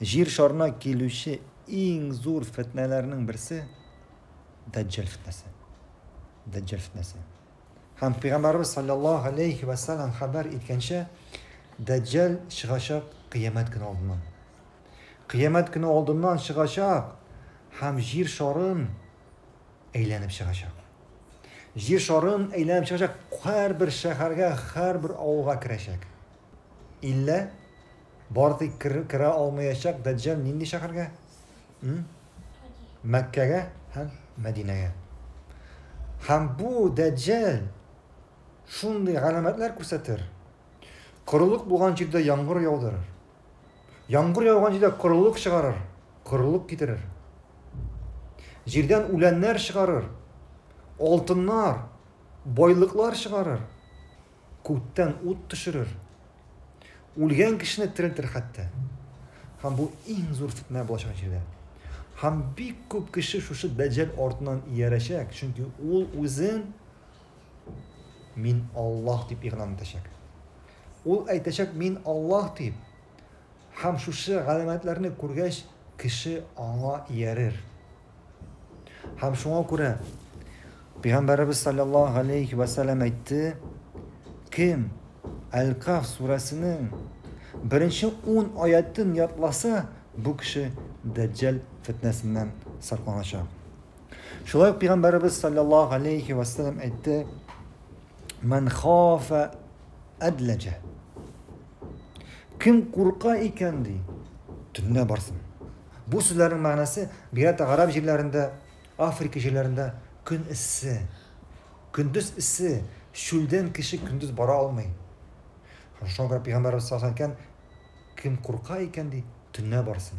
Җир шарына килүче иң зур фетнәләрнең берсе Дәҗҗәл фетнәсе. Дәҗҗәл фетнәсе. Һәм Пәйгамбәрбез саллаллаһу алейхи ва саллям хәбәр иткәнчә, Дәҗҗәл чыгачак кыямәт көне алдыннан. Кыямәт көне алдыннан чыгачак һәм җир шарын әйләнеп чыгачак. Җир шарын әйләнеп чыгачак, һәрбер шәһәргә, һәрбер авылга керәчәк. Иллә бар тик керә алмаячак Дәҗҗәл нинди шәһәргә? Мәккәгә һәм Мәдинәгә. Һәм бу Дәҗҗәл шундый галәмәтләр күрсәтер. Корылык булган җирдә яңгыр яудырыр. Яңгыр яуган җирдә корылык чыгарыр, корылык китерер. Җирдән үләннәр чыгарыр, алтыннар, байлыклар чыгарыр. Күктән ут төшерер. Үлгән кешене терелтер хәтта. Һәм бу иң зур фетнә булачак җирдә. Һәм бик күп кеше шушы дәҗҗәл артыннан иярәчәк, чөнки ул үзен мин Аллаһ дип игълан итәчәк. Ул әйтәчәк мин Аллаһ дип. Һәм шушы галәмәтләрне күргәч, кеше аңа иярер. Һәм шуңа күрә Пәйгамбәребез саллаллаһу галәйһи вә сәлләм әйтте, кем Әл-Каф сүрәсенең беренче ун аятын ятласа, бу кеше дәҗҗәл фетнәсеннән сакланачак. Шулай ук Пәйгамбәребез саллаллаһу галәйһи вә сәлләм әйтте, Мән хафа әдләҗә. Кем курка икән, ди, төнлә барсын. Бу сүзләрнең мәгънәсе бигрәк гарәп җирләрендә, Африка җирләрендә көн эссе. Көндез эссе, чүлдән кеше көндез бара алмый. Шуңа күрә пәйгамбәребез саллаллаһу алейһи ва сәлләм әйткән, Кем курка икән, ди, төнлә барсын.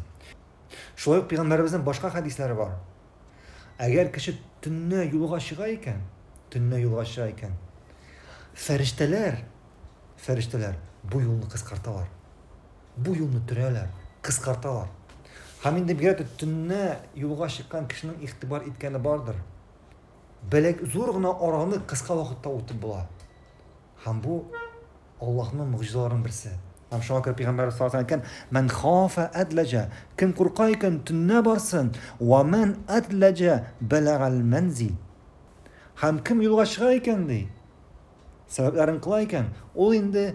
Шулай ук пәйгамбәребезнең башка хәдисләре бар. Әгәр кеше төнлә юлга чыга икән, төнлә юлга чыга икән, фәрештәләр, фәрештәләр бу юлны кыскарталар. бу юлны төрәләр, кыскарталар. Һәм инде бигрәк тә төнлә юлга чыккан кешенең игътибар иткәне бардыр. Бәләк зур гына араны кыска вакытта үтеп була. Һәм бу Аллаһның могҗизаларының берсе. Һәм шуңа күрә пәйгамбәр саллаллаһу алейһи ва сәлләм әйткән, "Мән хафа әдләҗә", кем курка икән, төнлә барсын, "Ва мән әдләҗә бәләгәл мәнзил". Һәм кем юлга чыга икән, ди, сәбәпләрен кыла икән, ул инде